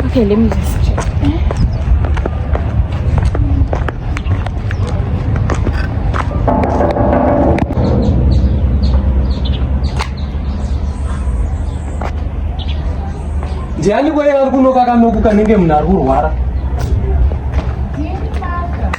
Okay, let me just check. ndiani kwaye ari kunokakanoku kanenge munhu ari kurwara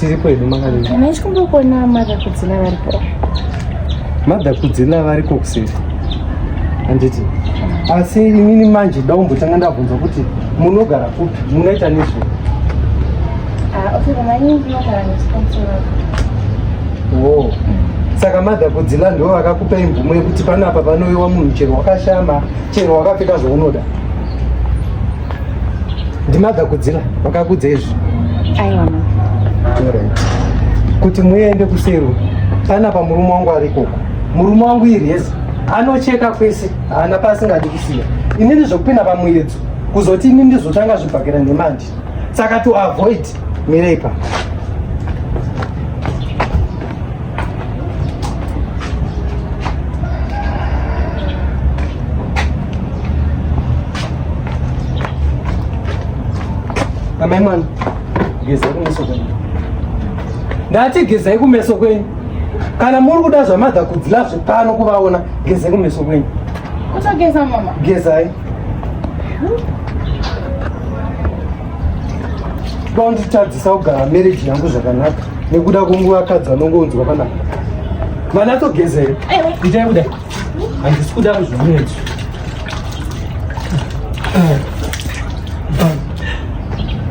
tiri kwedu makadiichikumbokuona mother kudzina varipo mother kudzina variko kuseri handiti asi inini manje daumbotanga ndabvunza kuti munogara kupi munoita nezvei ah, oh. saka mother kudzila ndo vakakupa imvumo yekuti panapa panoiwa munhu chero wakashama chero wakapfeka zvaunoda ndimagakudzira vakakudza izvi aiwa kuti muende kusero panapa murume wangu arikoko murume wangu iri yes anocheka kwese haana paasingadi kusiya inini zvekupinda pamuyedzo kuzoti ini ndizotanga zvibhakira nemandi saka to avoid mirepa amai mwana gezai kumeso kwenyu ndati gezai kumeso kwenyu kana muri kuda zvamadha kudzila zvepano kuvaona gezai kumeso kwenyu gezai ndonditadzisa kugara mereji yangu zvakanaka nekuda kwenguva kadzi vanongounzwa panapa mwana atogezere itai kudai handisi kuda kuzvimunetu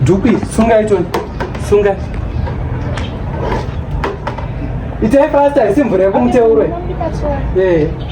dhuku sunga itoni sunga itai fasta isi mvura yekumuteuroe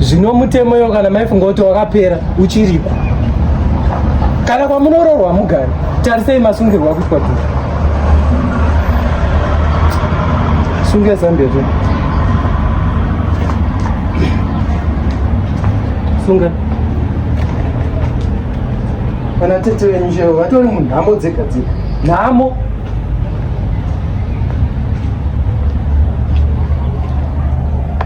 zvino mutemo iyo kana maifunga kuti wakapera uchiriko kana kwamunoroorwa mugari tarisei masungirwo akuitwa tu sunge zambia tu sunga kana tete venyu chero vatori munhamo dzega dzega nhamo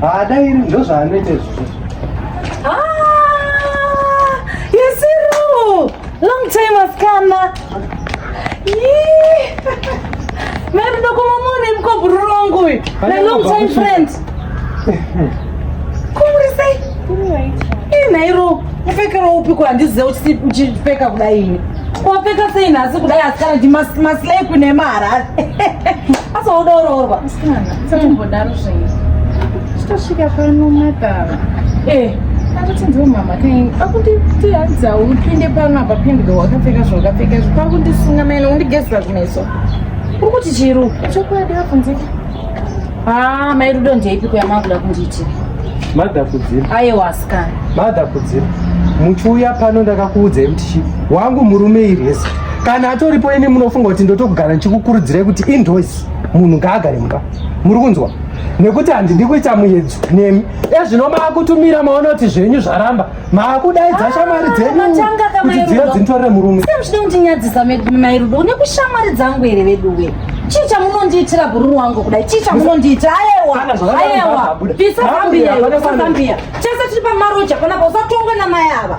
haada iri ndozvaanoita izvozvo yesiru long time asikana mairindokomamone mukobhururu wangu uyu na long time friend kumurisei inairo mupfekero upi ko handizive uchipfeka kudai ini wapfeka sei nhasi kudai asikana ndimaslay kune maharari asaodaoroorwa Satimbodaro zvenyu. Chitosvika pano madhara. Eh, akuti ndiwo mama kaini. Akunditiadza upinde pano apa pindwe wakapfeka zvawakapfeka izvo. Pakundisunga maina undigezera kumeso. Uri kuti chiru? Chokwadi apo ndiki. Ah, mai Rudo ndeipi kuya makuda kundiitira? Madha kudzira. Aiwa asikana. Madha kudzira. Muchiuya pano ndakakuudzai kuti chi wangu murume irese. Kana atoripo ini munofunga kuti ndotogara ndichikukurudzirai kuti indoors. munhu ngaagare mumba muri kunzwa nekuti handidi kuita muyedzo nemi ezvino maakutumira maona kuti zvenyu zvaramba maakudaidza ah, shamwari dzenyuatanga kamairo dzintorere murume sei muchida kundinyadzisa mairudo une kushamwari dzangu here veduwe chii chamunondiitira bhururu wangu kudai chii chamunondiitira ayewa ayewa pisa zambiya pisa zambiya chese tiri pamaroja panapa usatongwe namai ava